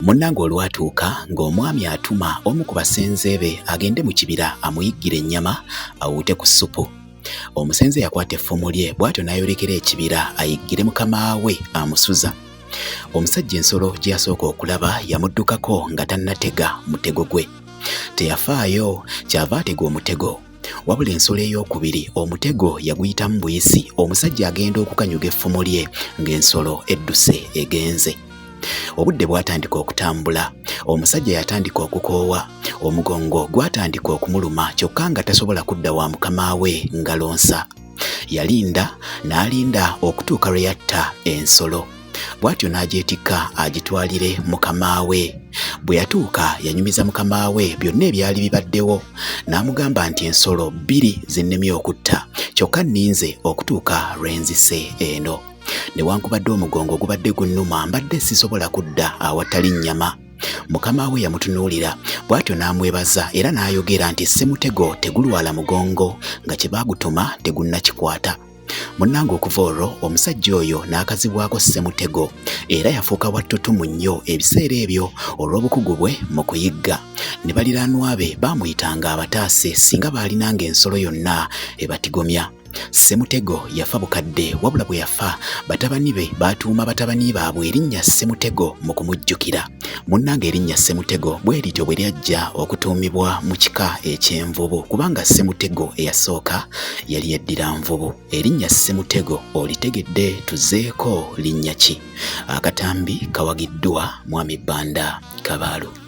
Munnange olwatuuka ng'omwami atuma omu ku basenze be agende mu kibira amuyiggire ennyama awuute ku ssupu. Omusenze yakwata effumu lye bw'atyo n'ayolekera ekibira ayiggire mukama we amusuza. Omusajja ensolo gye yasooka okulaba yamuddukako nga tannatega mutego gwe. Teyafaayo kyava atega omutego. wabula ensolo ey'okubiri omutego yaguyitamu buyisi omusajja agenda okukanyuga effumu lye ng'ensolo edduse egenze obudde bwatandika okutambula omusajja yatandika okukoowa omugongo gwatandika okumuluma kyokka nga tasobola kudda wa mukama we ngalonsa yalinda n'alinda okutuuka lwe yatta ensolo bw'atyo n'agyetikka agitwalire mukama we bwe yatuuka yanyumiza mukama we byonna ebyali bibaddewo n'amugamba nti ensolo bbiri zinnemye okutta kyokka nninze okutuuka lwe nzise eno newankubadde omugongo gubadde gunnuma mbadde sisobola kudda awatali nnyama mukama we yamutunuulira bw'atyo n'amwebaza era n'ayogera nti ssemutego tegulwala mugongo nga kye baagutuma tegunnakikwata Munnange okuva olwo omusajja oyo n'akazibwako Ssemutego era yafuuka wattutumu nnyo ebiseera ebyo olw'obukugu bwe mu kuyigga. Ne baliraanwa be baamuyitanga abataase singa baalinanga ensolo yonna ebatigomya. Ssemutego yafa bukadde wabula bwe yafa batabani be baatuuma batabani baabwe erinnya Ssemutego mu kumujjukira. Munnange erinnya Ssemutego bwe lityo bwe lyajja okutuumibwa mu kika eky'envubu kubanga Ssemutego eyasooka yali yeddira nvubu. Erinnya Ssemutego olitegedde tuzeeko linnya ki? Akatambi kawagiddwa Mwami Banda Kabaalu.